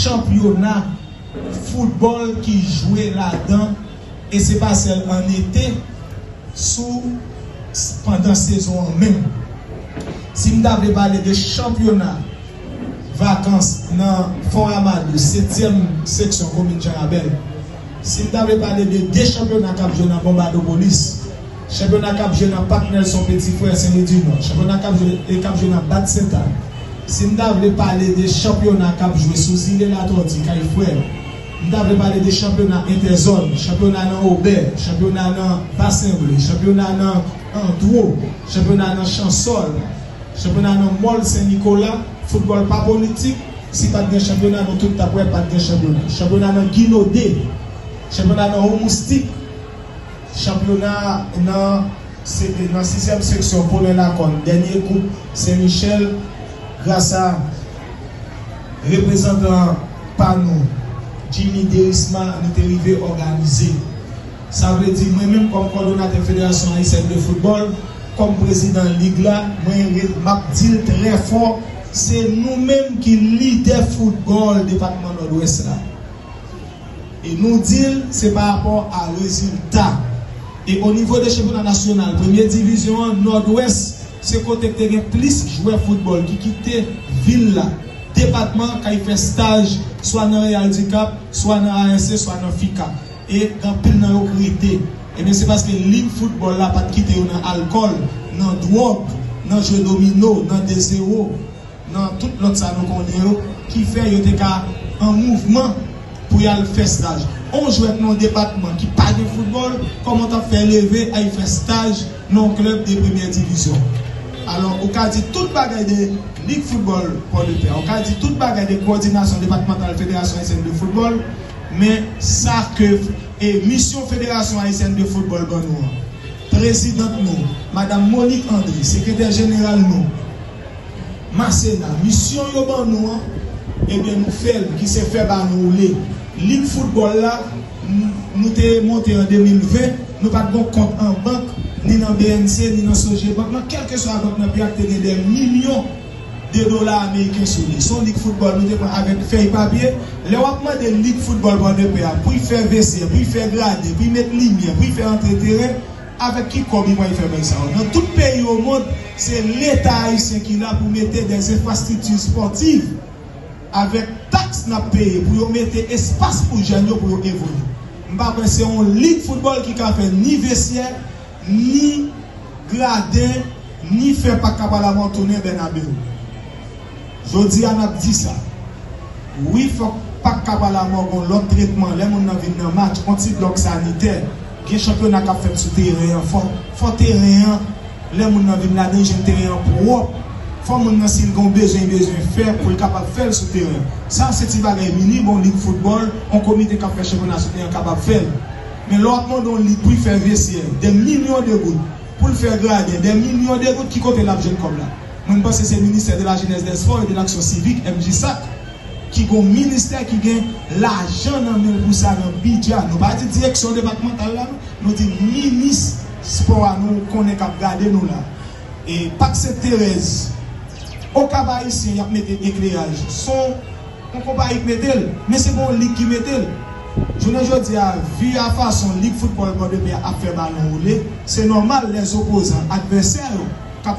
Chanpyona foutbòl ki jwe ladan e se pa sèl an ete sou pandan sezon an menm. Si m ta vle pale de chanpyona vakans nan Fò Ramadou, setyèm seksyon komin Jan Rabèl, si m ta vle pale de 2 chanpyona k ap jwe nan Bonbadopolis, Chanpyona k ap jwe nan Pak Nèlson Petifrè, Senlwidinò. Chanpyona k ap jwe e k ap jwe nan Bat Sentay. Si m ta vle pale de chanpyona k ap jwe sou Zile Latòti, Kay Frè yo, m ta vle pale de chanpyona entèzòn, chanpyona nan Obè, chanpyona nan Basenble, chanpyona nan Andwo, chanpyona nan Chansòl, chanpyona nan Mòl Sen Nikola. Foutbòl pa politik. Si pa t gen chanpyona, nou tout t ap wè pa t gen chanpyona. Chanpyona nan Ginode. Chanpyona nan Omoustik. Chanpyona a nan nan sizyèm seksyon Polo Lakòn dènye koup Sen Michèl grasa reprezantan pa nou Jimmy Derisma nou te rive òganize. Sa vle di mwen menm kòm kòdonatè Federasyon Ayisyèn de Foutbòl, kòm prezidan lig la mwen ret m ap di l trè fò se nou menm ki lidè foutbòl depatman Nòdwès la. E nou di l se pa rapò a rezilta. E onivo de chanpyona nasyonal premye divizyon an, Nòdwès se kote k te gen plis jwè foutbòl ki kite vil la, depatman an k al fè staj swa nan Real du Cap, swa nan ASC, swa nan FICAP. E anpil nan yo k rete, ebyen se paske lig foutbòl la pa t kite yo nan alkòl, nan dwòg, nan jwe domino, nan dezewo. nan tout lòt sa nou konnen yo ki fè yo te ka an mouvman pou y al fè staj. On jwè nan yon depatman ki pa gen foutbòl, kòman w t ap fè leve al fè staj nan yon klèb de premyè divizyon? Alò, ou ka di tout bagay de Lig Foutbòl Pòdepè, ou ka di tout bagay de Kowòdinasyon Depatmantal Federasyon Ayisyèn de Foutbòl, men sa ke e misyon Federasyon Ayisyèn de Foutbòl ban nou an, prezidant nou, madam Monique André, sekretè jeneral nou, Masena, Misyon yo ban nou an, ebyen nou fè l, ki se fè balon woule. Lig foutbòl la, n, nou te monte an 2020, nou pa t gon kont an bank, ni nan bnc, ni nan Sogebank, nan kèlkeswa bank nan peyi a k te gen dè milyon de dola ameriken sou li. Se yon lig foutbòl nou te pran avèk fèy papye. Lè w ap mande lig foutbòl Pòdepè a pou y fè vese, pou y fè gradin, pou y met limyè, pou y fè antre teren, Avèk ki kòb li pwal fè bagn sa yo? Nan tout peyi o mond se leta ayisyen ki la pou mete dè zenfrastrikti spòtiv avèk taks nap peye pou yo mete espas pou jèn yo pou yo evolye. M pa kwè se yon lig foutbòl ki ka fè ni vesyè, ni graden, ni fè pak kap al avon tounen Bernabeu. Jodi a nap di sa wi fòk pak kap a la mò gon lòt tretman lè moun nan vin nan match on ti blòk sanitè gen chanpyona kap fèt sou teren an fò fò teren an lè moun nan vin ladann jwenn teren an pwòp fò moun nan sil gon bezwen bezwen fè poul kapab fèl sou teren an sa se ti bagay minim on lig foutbòl on komite kap fè chanpyona sou teren an kapab fèl men lè wap mande on lig poul fè vesyè dè milyon de goud poul fè gradin dè milyon de goud ki kote lap jwenn kòb la. Mwen m panse se ministè de la jenès dè spò e de laksyon sivik, MJSAC, ki gon ministè ki gen lajan nan menl pou sa nan bidja nou pa di direksyon depatmantal la non nou di minis spò a nou konnen kap gade nou la e pak sent terèz o kap ayisyen yap mete ekleraj son on konpayi k metel men se pa on lig ki metel jounen jodi a vi a fason lig foutbòl pòdepè a ap fè balon woule se nòmal lè zopozan advèsè yo kap